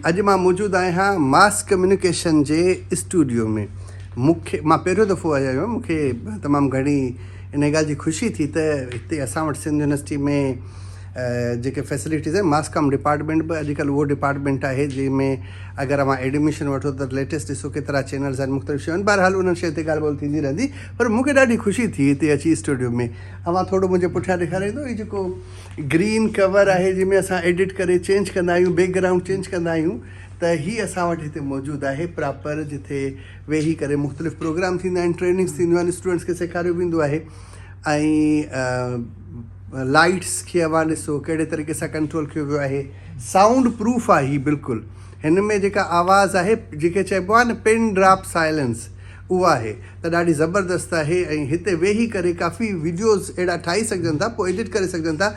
اڄ مان موجود آهيان ماس ڪميونيڪيشن جي اسٽوڊيو ۾ مون کي مان پهريون دفعو آيو آهيان مون کي تمام گهڻي ان ڳالهه جي خوشي ٿي ته هتي اسان وٽ سنڌ يونيورسٽي ۾ جيڪي فيسلٽيز آهن ماس ڪام ڊپارٽمنٽ به اڄڪلهه اهو ڊپارٽمنٽ آهي جنهن ۾ اگر اوهان ايڊميشن وٺو ته ليٽيسٽ ڏسو ڪيترا چينلز آهن مختلف شيون بهرحال انهن شين تي ڳالهه ٻولهه ٿيندي رهندي پر مون کي ڏاڍي خوشي ٿي هتي اچي اسٽوڊيو ۾ اوهان ٿورو منهنجي پٺيان ڏيکاريندو هي جيڪو گرين ڪور آهي جنهن ۾ اسان ايڊٽ ڪري چينج ڪندا آهيون بيڪ گرائونڊ چينج ڪندا آهيون ته هي اسان وٽ هتي موجود آهي پراپر جتي ويهي ڪري مختلف پروگرام ٿيندا آهن ٽريننگس ٿينديون آهن اسٽوڊنٽس کي سيکاريو ويندو آهي ۽ لائٽس کي اوهان ڏسو ڪهڙي طريقي سان ڪنٽرول ڪيو ويو آهي سائونڊ پروف آهي هي بلڪل هن ۾ جيڪا آواز آهي جيڪي چئبو آهي نه پن ڊراپ سائلنس اهو آهي ته ڏاڍي زبردست آهي ۽ هتي ويهي ڪري ڪافي ويڊيوز اهڙا ٺاهي سگهجن ٿا پوء ايڊٽ ڪري سگهجن ٿا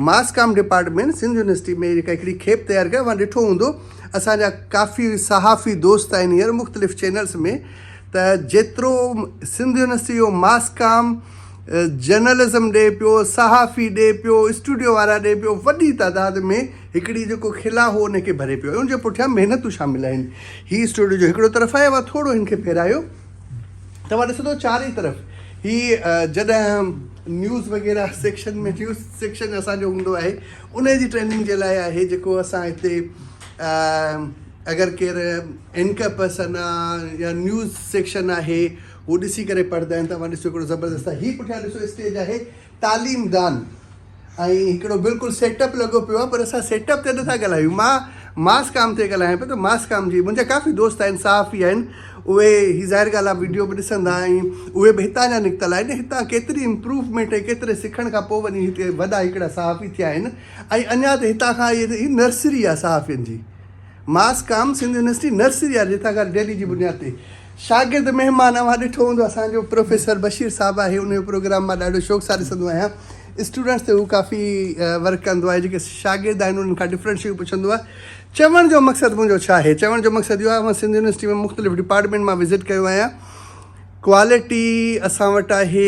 mass com department Sindh university ۾ جيڪا هڪڙي کيپ تيار ڪئي اوهان ڏٺو هوندو اسان جا ڪافي صحافي دوست آهن هينئر مختلف چينلز ۾ ته جيترو سنڌ يونيورسٽي جو ماس ڪام جرنلزم ڏي پيو صحافي ڏي پيو اسٽوڊيو وارا ڏي پيو وڏي تعداد ۾ هڪڙي جيڪو کل آ هو ان کي ڀري پيو ۽ ان جي پٺيان محنتون شامل آهن. هي اسٽوڊيو جو هڪڙو طرف آهي اوهان ٿورو هن کي ڦيرايو توهان ڏسندو چارئي طرف هي جڏهن نيوز وغيره سيڪشن ۾ نيوز سيڪشن اسان جو هوندو آهي انهي جي ٽريننگ جي لاء آهي جيڪو اسان هتي اگر ڪير اينڪر پرسن آ يا نيوز سيڪشن آهي هو ڏسي ڪري پڙهندا آهن توهان ڏسو هڪڙو زبردست آهي هي پٺيان ڏسو اسٽيج آهي تعليم دان ۽ هڪڙو بلڪل سيٽ اپ لڳو پيو آهي پر اسان سيٽ اپ تي نٿا ڳالهايون مان ماس ڪام تي ڳالهايان پيو ته ماس ڪام جي منهنجا ڪافي دوست آهن صحافي آهن اهي هي ظاهر ڳالهه آهي وڊيو به ڏسندا ۽ اهي به هتان جا نڪتل آهن هتان ڪيتري امپروومينٽ ۽ ڪيتري سکڻ کان پوء وڃي هتي وڏا هڪڙا صحافي ٿيا آهن ۽ اڃا ته هتان کان هي نرسري آهي صحافين جي mass com Sindh university nursery yard جتان کان ڊيلي جي بنياد تي شاگرد مهمان اوهان ڏٺو هوندو اسان جو پروفيسر بشير صاحب آهي ان جو پروگرام مان ڏاڍو شوق سان ڏسندو آهيان اسٽوڊنٽس تي هو ڪافي ورڪ ڪندو آهي جيڪي شاگرد آهن انهن کان ڊفرنٽ شيون پڇندو آهي چوڻ جو مقصد منهنجو ڇا آهي چوڻ جو مقصد اهو آهي مان سنڌ يونيورسٽي ۾ مختلف ڊپارٽمنٽ مان وزٽ ڪيو آهيان ڪوالٽي اسان وٽ آهي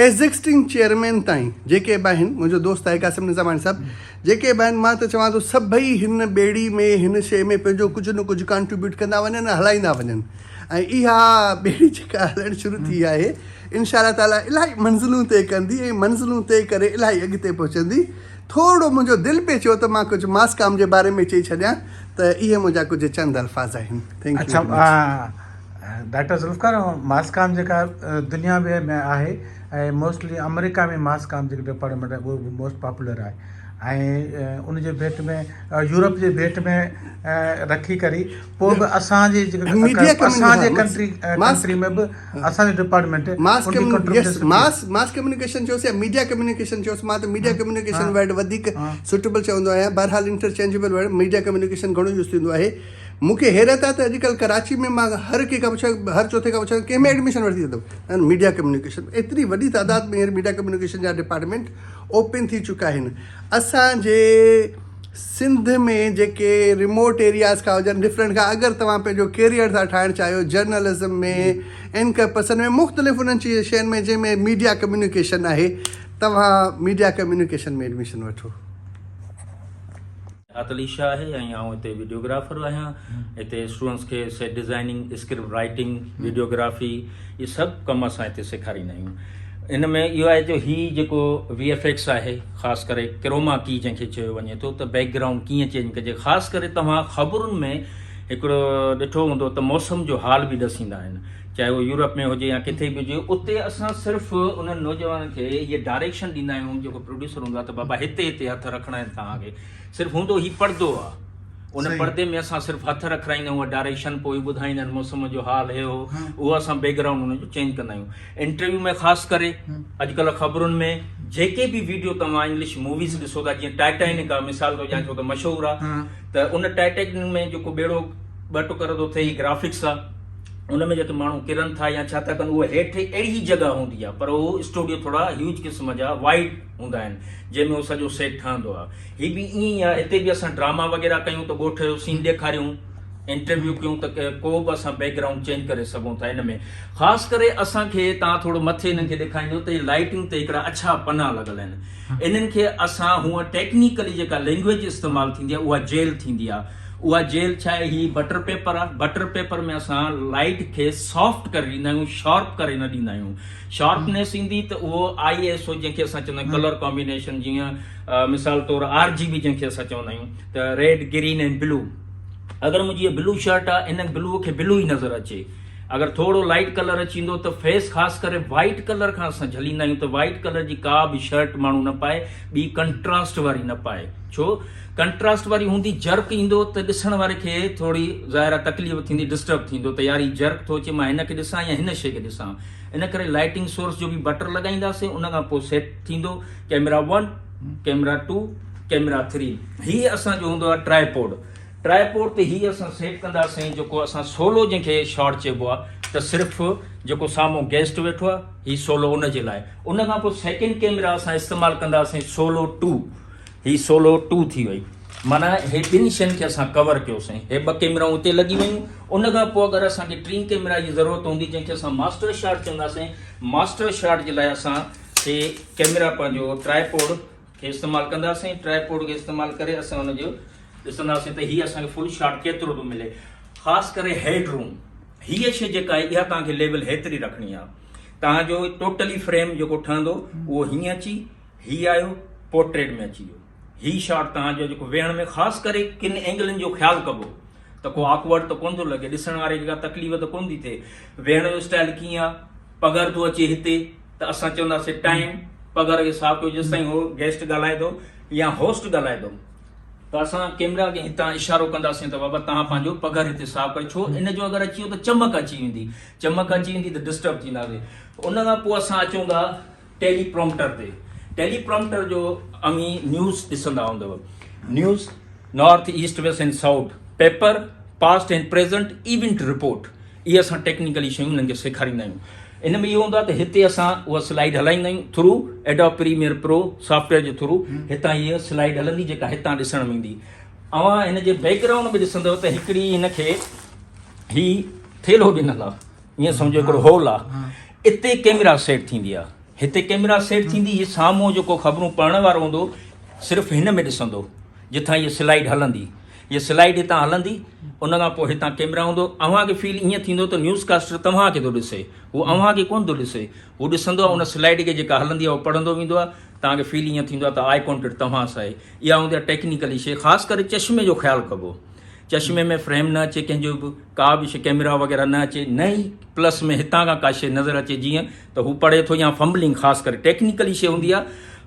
ايگزسٽنگ چيئرمين تائين جيڪي به آهن منهنجو دوست آهي قاسم نظاماڻي صاحب جيڪي به آهن مان ته چوان ٿو سڀئي هن ٻيڙي ۾ هن شيء ۾ پنهنجو ڪجهه نه ڪجهه ڪانٽريبيوٽ ڪندا وڃن ۽ هلائيندا وڃن ۽ اها ٻيڙي جيڪا هلڻ شروع ٿي آهي انشاء الله تعالي الاهي منزلون طئي ڪندي ۽ منزلون طئي ڪري الاهي اڳتي پهچندي ٿورڙو منهنجو دل پئي چيو ته مان ڪجهه ماسڪام جي باري ۾ چئي ڇڏيان ته اهي منهنجا ڪجهه چند الفاظ آهن ٿينڪ يو اچھا ڊاڪٽر ذوالفقار ماس ڪام جيڪا دنيا ڀر ۾ آهي ۽ موسٽلي آمريڪا ۾ ماس ڪام جيڪو ڊپارٽمينٽ آهي اهو موسٽ پاپولر آهي ۽ ان جي ڀيٽ ۾ يورپ جي ڀيٽ ۾ رکي ڪري پوء به اسانجي جيڪا اسانجي ڪنٽري ڪنٽري ۾ به اسانجي department mass mass mass communication چوس يا ميڊيا ڪميونيڪيشن چوس مان ته ميڊيا ڪميونيڪيشن ورڊ وڌيڪ سوٽيبل چوندو آهيان بهرحال انٽرچينجبل ورڊ ميڊيا ڪميونيڪيشن گهڻو يوز ٿيندو آهي مون کي حيرت آهي ته اڄڪلهه ڪراچي ۾ مان هر ڪنهن کان پڇان هر چوٿين کان پڇان ڪنهن ۾ ايڊميشن ورتي اٿم ۽ ميڊيا ڪميونيڪيشن ۾ ايتري وڏي تعداد ۾ هينئر ميڊيا ڪميونيڪيشن جا ڊپارٽمينٽ اوپن ٿي چڪا آهن اسان جي سنڌ ۾ جيڪي ريموٽ ايرياز کان هجن ڊفرنٽ کان اگر توهان پنهنجو ڪيريئر ٿا ٺاهڻ چاهيو جرنلزم ۾ اينڪر پرسن ۾ مختلف انهن چيز شين ۾ جنهن ۾ ميڊيا ڪميونيڪيشن آهي توهان ميڊيا ڪميونيڪيشن ۾ ايڊميشن وٺو عطلي شاهه آهي ۽ آئون هتي وڊيوگرافر آهيان هتي اسٽوڊنٽس کي set designing script writing videography اهي سڀ ڪم اسان هتي سيکاريندا آهيون ان ۾ اهو آهي جو هي جيڪو وي ايف ايڪس آهي خاص ڪري ڪروما ڪي جنهن کي چيو وڃي ٿو ته بيڪ گرائونڊ ڪيئن چينج ڪجي خاص ڪري توهان خبرن ۾ هڪڙو ڏٺو هوندو ته موسم جو حال به ڏسيندا آهن چاهي اهو يورپ ۾ هجي يا ڪٿي به هجي اتي اسان صرف انهن نوجوانن کي هيء ڊائريڪشن ڏيندا آهيون جيڪو پروڊيوسر هوندو آهي ته بابا هتي هتي هٿ رکڻا آهن توهان کي صرف هوندو هي پڙدو آهي ان پڙدي ۾ اسان صرف هٿ رکرائيندا آهيون ڊائريڪشن پوء ٻڌائيندا آهن موسم جو حال هي هو اهو اسان بيڪ گرائونڊ ان جو چينج ڪندا آهيون انٽرويو ۾ خاص ڪري اڄڪلهه خبرن ۾ جيڪي به ويڊيو توهان انگلش موويز ڏسو ٿا جيئن ٽائٽانڪ آهي مثال ٿو ڏيان ڇو ته مشهور آهي ته ان ٽائٽانڪ ۾ جيڪو ٻيڙو ٻه ٽڪر ٿو ٿئي هي گرافڪس آهي ان ۾ جيڪي ماڻهو ڪرن ٿا يا ڇا ٿا ڪن اهو هيٺ اهڙي ئي جڳهه هوندي آهي پر اهو اسٽوڊيو ٿورا هيوج قسم جا وائڊ هوندا آهن جنهن ۾ اهو سڄو سيٽ ٺهندو آهي هي به ائين ئي آهي هتي به اسان ڊراما وغيره ڪيون ته ڳوٺ جو سين ڏيکاريون انٽرويو ڪيون ته ڪو به اسان بيڪ گرائونڊ چينج ڪري سگهون ٿا ان ۾ خاص ڪري اسان کي تان ٿورو مٿي انهن کي ڏيکاريندو ته لائٽنگ تي هڪڙا اڇا پنا لڳل آهن انهن کي اسان هونء ٽيڪنيڪلي جيڪا لينگويج استعمال ٿيندي آهي اها جيل ٿيندي آهي اها جيل ڇا آهي هي بٽر پيپر آهي بٽر پيپر ۾ اسان لائيڊ کي سافٽ ڪري ڏيندا آهيون شارپ ڪري نه ڏيندا آهيون شارپنيس ايندي ته اهو آئي ايس او جنهن کي اسان چوندا آهيون ڪلر ڪامبينيشن جيئن مثال طور آر جي بي جنهن کي اسان چوندا آهيون ته ريڊ گرين ۽ بلو اگر منهنجي بلو شرٽ آهي ان بلو کي بلو ئي نظر اچي اگر ٿورڙو لائٽ ڪلر اچي ويندو ته فيس خاص ڪري وائيٽ ڪلر کان اسان جهليندا آهيون ته وائيٽ ڪلر جي ڪا به شرٽ ماڻهو نه پائي ٻي ڪنٽراسٽ واري نه پائي ڇو ڪنٽراسٽ واري هوندي جرڪ ايندو ته ڏسڻ واري کي ٿورڙي ظاهر آهي تڪليف ٿيندي ڊسٽرب ٿيندو ته يار هي جرڪ ٿو اچي مان هن کي ڏسان يا هن شي کي ڏسان ان ڪري لائٽنگ سورس جو به بٽر لڳائينداسين ان کان پوء سيٽ ٿيندو camera one camera two camera three هي اسان جو هوندو آهي ٽرائي پوڊ ٽرائي پورٽ تي هي اسان سيٽ ڪنداسين جيڪو اسان سولو جنهن کي شاٽ چئبو آ ته صرف جيڪو سامهون گيسٽ ويٺو آ هي سولو ان جي لاء ان کان پوء سيڪنڊ ڪيمرا اسان استعمال ڪنداسين سولو ٽو هي سولو ٽو ٿي وئي معنيٰ هي ٻن شين کي اسان ڪور ڪيو سائين هي ٻه ڪيمرائون اتي لڳي ويون ان کان پوء اگر اسان کي ٽين ڪيمرا جي ضرورت هوندي جنهن کي اسان ماسٽر شاٽ چونداسين ماسٽر شاٽ جي لاء اسان کي ڪيمرا پنهنجو ٽرائي پورٽ کي استعمال ڪنداسين ٽرائي پوڊ کي استعمال ڪري اسان ان جو ڏسنداسين ته هي اسان کي فل شاٽ ڪيترو ٿو ملي خاص ڪري هيڊ روم هي شي جيڪا آهي اها توهان کي ليول هيتري رکڻي آهي توهان جو ٽوٽلي فريم جيڪو ٺهندو اهو هيئن اچي هي آيو پورٽريٽ ۾ اچي ويو هي شاٽ توهان جو جيڪو ويهڻ ۾ خاص ڪري ڪن اينگلن جو خيال ڪبو ته کو آڪورڊ ته ڪون ٿو لڳي ڏسڻ واري کي کا تڪليف ته ڪون ٿي ٿئي ويهڻ جو اسٽائل ڪيئن آهي پگهر ٿو اچي هتي ته اسان چونداسين ٽائيم پگهر جو حساب ڪيو جيستائين هو گيسٽ ڳالهائي ٿو يا هوسٽ ڳالهائي ٿو ته اسان ڪيمرا کي هتان اشارو ڪنداسين ته بابا تهان پنهنجو پگهر هتي حساب ڪري ڇو ان جو اگر اچي ويو ته چمڪ اچي ويندي چمڪ اچي ويندي ته ڊسٽرب ٿينداسي ان کان پوء اسان اچون ٿا ٽيلي پرومپٽر تي ٽيلي پرومپٽر جو اوهين نيوز ڏسندا هوندو news north east west and south paper past and present event report اهي اسان ٽيڪنيڪلي شيون هنن کي سيکاريندا آهيون ان ۾ اهو هوندو آهي ته هتي اسان اها سلائيڊ هلائيندا آهيون through Adobe Premiere Pro software جي ٿرو هتان هيء سلائيڊ هلندي جيڪا هتان ڏسڻ ۾ ايندي اوهان هن جي بيڪ گرائونڊ ۾ ڏسندو ته هڪڙي هن کي هي ٿيلهو ڏنل آهي ائين سمجهو هڪڙو هول آهي اتي ڪيمرا سيٽ ٿيندي آهي هتي ڪيمرا سيٽ ٿيندي هي سامهون جيڪو خبرون پڙهڻ وارو هوندو صرف هن ۾ ڏسندو جتان هيء سلائيڊ هلندي هيء سلائيڊ هتان هلندي، ان کان پوء هتان ڪيمرا هوندو، اوهان کي فيل ائين ٿيندو ته نيوز ڪاسٽر توهان کي ٿو ڏسي، هو اوهان کي ڪونه ٿو ڏسي، هو ڏسندو آهي ان سلائيڊ کي جيڪا هلندي آهي اهو پڙهندو ويندو آهي، توهان کي فيل ائين ٿيندو آهي ته آئي ڪانٽيڪٽ توهان سان آهي، اها هوندي آهي ٽيڪنيڪلي شيء، خاص ڪري چشمي جو خيال ڪبو، چشمي ۾ فريم نه اچي ڪنهن جو به، ڪا به شيء ڪيمرا وغيره نه اچي، نه ئي پلس ۾ هتان کان ڪا شيء نظر اچي جيئن ته هو پڙهي ٿو يا فمبلنگ خاص ڪري ٽيڪنيڪلي شيء هوندي آهي،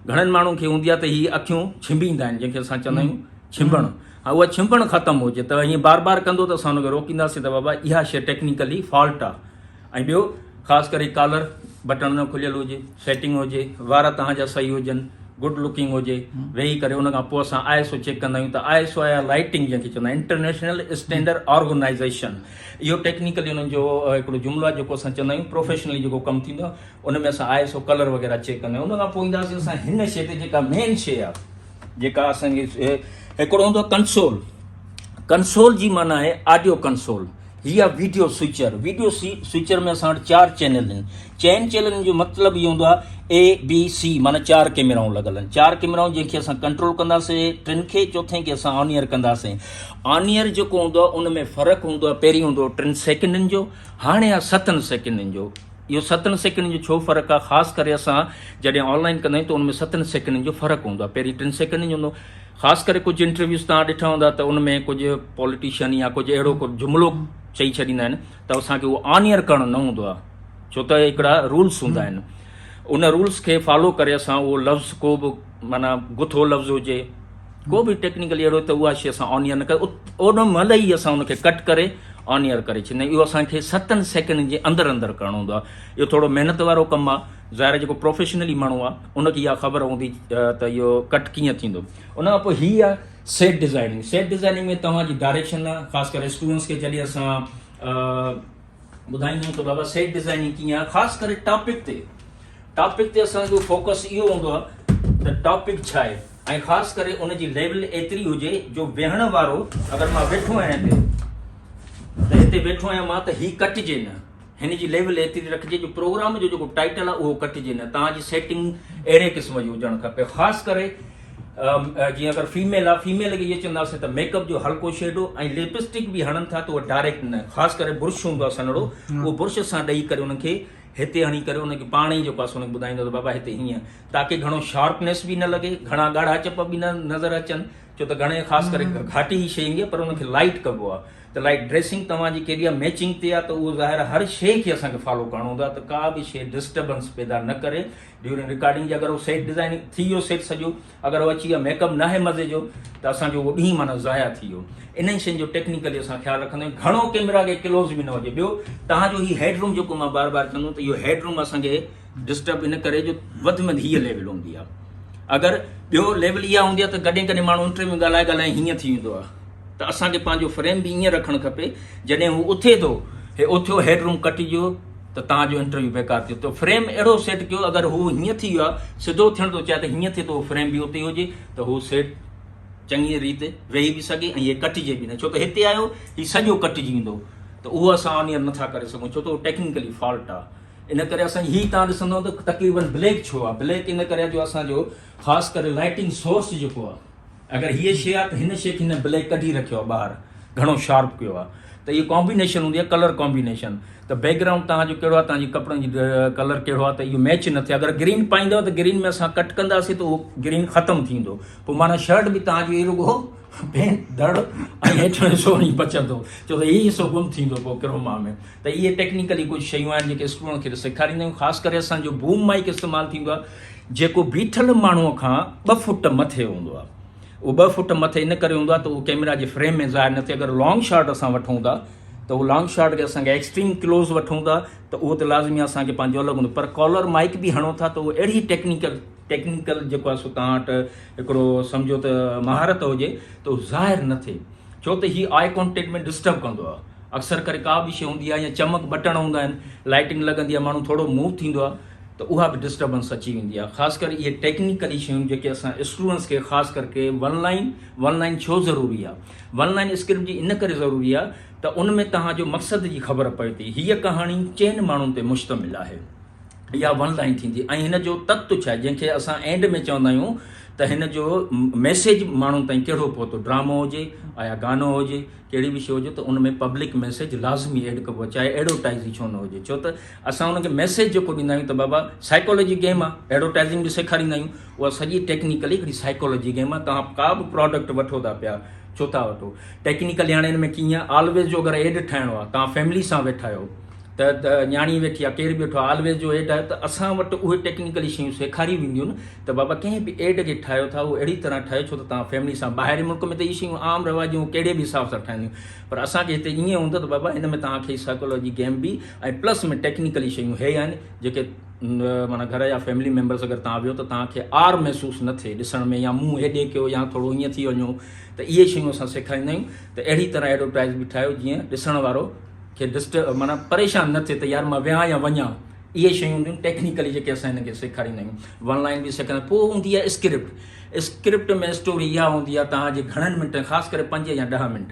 گهڻن ماڻهن کي هوندي آهي ته هي اکيون ڇنڀيندا آهن جنهن کي اسان چوندا آهيون ڇنڀڻ ها اها ڇنڀڻ ختم هجي ته ائين بار بار ڪندو ته اسان ان کي روڪينداسين ته بابا اها شي ٽيڪنيڪلي فالٽ آهي ۽ ٻيو خاص ڪري ڪالر بٽڻ نه کليل هجي سيٽنگ هجي وار توهان جا صحيح هجن گڊ لوڪنگ هجي ويهي ڪري ان کان پوء اسان آء ايس او چيڪ ڪندا آهيون ته آء ايس او آيا لائٽنگ جنهن کي چوندا آهيون انٽرنيشنل اسٽينڈرڊ آرگنائزيشن اهو ٽيڪنيڪلي انهن جو هڪڙو جملو آهي جيڪو اسان چوندا آهيون پروفيشنلي جيڪو ڪم ٿيندو آهي ان ۾ اسان آء ايس او ڪلر وغيره چيڪ ڪندا آهيون ان کان پوء اينداسين اسان هن شي تي جيڪا مين شي آهي جيڪا اسان کي هڪڙو هوندو آهي ڪنسول ڪنسول جي معنيٰ آهي آڊيو ڪنسول هي آهي ويڊيو سوئچر ويڊيو سوئچر ۾ اسان وٽ چار چينل آهن چئن چينلن جو مطلب اهو هوندو آهي اي بي سي معنی چار ڪيميرائون لڳل آهن چار ڪيميرائون جنهن کي اسان ڪنٽرول ڪنداسين ٽن کي چوٿين کي اسان آنيئر ڪنداسين آنيئر جيڪو هوندو آهي ان ۾ فرق هوندو آهي پهرين هوندو هو ٽن سيڪنڊن جو هاڻي آهي ستن سيڪنڊن جو اهو ستن سيڪنڊن جو ڇو فرق آهي خاص ڪري اسان جڏهن آن لائين ڪندا آهيون ته ان ۾ ستن سيڪنڊن جو فرق هوندو آهي پهرين ٽن سيڪنڊن جو هوندو خاص ڪري ڪجهه انٽرويوز تان ڏٺا هوندا ته ان ۾ ڪجهه پوليٽيشن يا ڪجهه اهڙو ڪو جملو چئي ڇڏيندا آهن ته اسان کي اهو آنيئر ڪرڻو نه هوندو آهي ڇو ته هڪڙا رولس هوندا آهن ان رولس کي فالو ڪري اسان اهو لفظ ڪو به معنيٰ گٿو لفظ هجي ڪو به ٽيڪنيڪلي اهڙو ته اها شي اسان آن ايئر نه ڪري اوڏ مهل ئي اسان ان کي ڪٽ ڪري آن ايئر ڪري ڇڏيندا اهو اسانکي ستن سيڪنڊن جي اندر اندر ڪرڻو هوندو آهي اهو ٿورو محنت وارو ڪم آهي ظاهر جيڪو پروفيشنلي ماڻهو آهي ان کي اها خبر هوندي ته اهو ڪٽ ڪيئن ٿيندو ان کان پوء هي آهي سيٽ ڊيزائننگ سيٽ ڊيزائننگ ۾ توهان جي ڊائريڪشن خاص ڪري اسٽوڊنٽس کي جڏهن اسان ٻڌائينديون ته بابا سيٽ ڊزائننگ ڪيئن آهي خاص ڪري ٽاپڪ تي ٽاپڪ تي اسان جو فوڪس اهو هوندو آهي ته ٽاپڪ ڇا آهي ۽ خاص ڪري ان جي ليول ايتري هجي جو ويهڻ وارو اگر مان ويٺو آهيان هتي ته هتي ويٺو آهيان مان ته هي ڪٽجي نه هن جي ليول ايتري رکجي جو پروگرام جو جيڪو ٽائٽل آهي اهو ڪٽجي نه تان جي سيٽنگ اهڙي قسم جي هجڻ کپي خاص ڪري جيئن اگر فيميل آ فيميل کي اهي چونداسين ته ميڪ اپ جو هلڪو شيڊو ۽ لپسٽڪ به هڻن ٿا ته ڊائريڪٽ نه خاص ڪري برش هوندو آ سنهڙو اهو برش سان ڏئي ڪري انهن کي هتي هڻي ڪري انهن کي پاڻ ئي جيڪو اسان ٻڌائيندو ته بابا هتي هيئن تاڪي گهڻو شارپنيس به نه لڳي گهڻا ڳاڙها چپ به نه نظر اچن ڇو ته گهڻي خاص ڪري گهاٽي هي شي ايندي آ پر انهن کي لائٽ ڪبو آ ته لائٽ ڊريسنگ توهان جي ڪهڙي آ ميچنگ تي آ ته اهو ظاهر آ هر شي کي اسان کي فالو ڪرڻو هوندو آ ته ڪا به شي ڊسٽربنس پيدا نه ڪري ڊيورنگ رڪارڊنگ جي اگر هو سيٽ ڊيزائن ٿي ويو سيٽ سڄو اگر هو اچي ويو ميڪ اپ ناهي مزي جو ته اسانجو اهو ڏينهن معنی ضايع ٿي ويو انهن شين جو ٽيڪنيڪلي اسان خيال رکندا آهيون گهڻو ڪيمرا کي ڪلوز به نه هجي ٻيو تهانجو هي هيڊ روم جيڪو مان بار بار چوندو ته اهو هيڊ روم اسانکي ڊسٽرب ان ڪري جو وڌ ۾ هيء ليول هوندي آهي اگر ٻيو ليول اها هوندي آهي ته ڪڏهن ڪڏهن ماڻهو انٽرويو ڳالهائي ڳالهائي هيئن ٿي ويندو آهي ته اسانکي پنهنجو فريم به ائين رکڻ کپي جڏهن هو اٿي ٿو هي اٿيو هيڊ روم ڪٽجو ته توهان جو انٽرويو بيڪار ٿيو تو فريم اهڙو سيٽ ڪيو اگر هو هيئن ٿي ويو سڌو ٿيڻ ٿو چاهي ته هيئن ٿي ته اهو فريم به اتي هجي ته هو سيٽ چڱي ريت ويهي به سگهي ۽ هي ڪٽجي به نه ڇو ته هتي آيو هي سڄو ڪٽجي ويندو ته اهو اسان آن ايئر نٿا ڪري سگهون ڇو ته اهو ٽيڪنيڪلي فالٽ آهي ان ڪري اسان هي تان ڏسندو ته تقريبن بليڪ ڇو آهي بليڪ ان ڪري جو اسان جو خاص ڪري لائٽنگ سورس جيڪو آهي اگر هيء شيء آ ته هن شيء کي هن بليڪ ڪڍي رکيو آ ٻاهر گهڻو شارپ ڪيو آ ته هيء ڪامبينيشن هوندي آ ڪلر ڪامبينيشن ته بيڪ گرائونڊ توهان جو ڪهڙو آ توهان جي ڪپڙن جي ڪلر ڪهڙو آ ته اهو ميچ نه ٿئي اگر گرين پائيندؤ ته گرين ۾ اسان ڪٽ ڪنداسين ته اهو گرين ختم ٿيندو پوء معنيٰ شرٽ به توهان جي رڳو پينٽ دڙ ۽ هيٺيون حصو وڃي بچندو ڇو ته هي حصو گم ٿيندو پوء ڪروما ۾ ته اهي ٽيڪنيڪلي ڪجهه شيون آهن جيڪي اسٽوڊنٽ کي سيکاريندا آهيون خاص ڪري اسان جو بوم مائيڪ استعمال ٿيندو آ جيڪو بيٺل ماڻهوء کان ٻه فوٽ مٿي هوندو آهي. اهو ٻه فوٽ مٿي ان ڪري هوندو آهي ته اهو ڪيمرا جي فريم ۾ ظاهر نه ٿئي. اگر لانگ شاٽ اسان وٺون ٿا ته اهو لانگ شاٽ کي اسان کي ايڪسٽريم ڪلوز وٺون ٿا ته اهو ته لازمي اسان کي پنهنجو الڳ هوندو پر ڪالر مائيڪ به هڻو ٿا ته اهو اهڙي ٽيڪنيڪل ٽيڪنيڪل جيڪو آهي سو توهان وٽ هڪڙو سمجهو ته مهارت هجي ته اهو ظاهر نه ٿئي ڇو ته هي آء ڪانٽيڪٽ ۾ ڊسٽرب ڪندو آهي. اڪثر ڪري ڪا به شيء هوندي آهي يا چمڪ بٽڻ هوندا آهن لائٽنگ لڳندي آهي ماڻهو ٿورو موو ٿيندو آهي. ته اها به ڊسٽربنس اچي ويندي آهي خاص ڪري اهي ٽيڪنيڪلي شيون جيڪي اسان اسٽوڊنس کي خاص ڪر ڪي ون لائن ون لائن ڇو ضروري آهي ون لائن اسڪرپٽ جي ان ڪري ضروري آهي ته ان ۾ توهان جو مقصد جي خبر پئي ٿي هيء ڪهاڻي چئن ماڻهن تي مشتمل آهي اها ون لائن ٿيندي ۽ هن جو تت ڇا جنهن کي اسان اينڊ ۾ چوندا آهيون ته هن جو ميسيج ماڻهن تائين ڪهڙو پهتو ڊرامو هجي آيا گانو هجي ڪهڙي به شو هجي ته ان ۾ پبلڪ ميسيج لازمي ايڊ ڪبو چاهي ايڊورٽائز ڇو نه هجي ڇو ته اسان ان کي ميسيج جيڪو ڏيندا آهيون ته بابا سائيڪالوجي گيم آهي، ايڊورٽائزنگ به سيکاريندا آهيون، اها سڄي ٽيڪنيڪلي هڪڙي سائيڪالوجي گيم آهي، توهان ڪا به پراڊڪٽ وٺو ٿا پيا، ڇو ٿا وٺو؟ ٽيڪنيڪلي هاڻي ان ۾ ڪيئن آهي، آلويز جو اگر ايڊ ٺاهڻو آهي، توهان فيملي سان ويٺا آهيو ته نياڻي ويٺي آهي، ڪير به ويٺو آهي، آلويز جو ايڊ آهي ته اسان وٽ اهي ٽيڪنيڪلي شيون سيکاريون وينديون نه ته بابا ڪنهن به ايڊ کي ٺاهيو ٿا اهو اهڙي طرح ٺاهيو ڇو ته توهان فيملي سان ٻاهرين ملڪ ۾ ته اهي شيون عام رواج جون ڪهڙي به حساب سان ٺهنديون پر اسان کي هتي ايئن هوندو ته بابا هن ۾ توهان کي سائيڪالوجي گيم به ۽ پلس ۾ ٽيڪنيڪلي شيون هي آهن جيڪي معنيٰ گهر يا فيملي ميمبرس اگر توهان ويهو ته توهان کي عار محسوس نه ٿئي ڏسڻ ۾ يا منهن هيڏي ڪيو يا ٿورو هيئن ٿي وڃو ته اهي شيون اسان سيکاريندا آهيون ته اهڙي طرح ايڊورٽائز به ٺاهيو جيئن ڏسڻ وارو کي ڊسٽ معنيٰ پريشان نه ٿئي ته يار مان ويهان يا وڃان اهي شيون هونديون آهن ٽيڪنيڪلي جيڪي اسان هن کي سيکاريندا آهيون ون لائن به سيکاريندا پوء هوندي آهي اسڪرپٽ اسڪرپٽ ۾ اسٽوري اها هوندي آهي توهان جي گهڻن منٽن خاص ڪري پنج يا ڏهه منٽ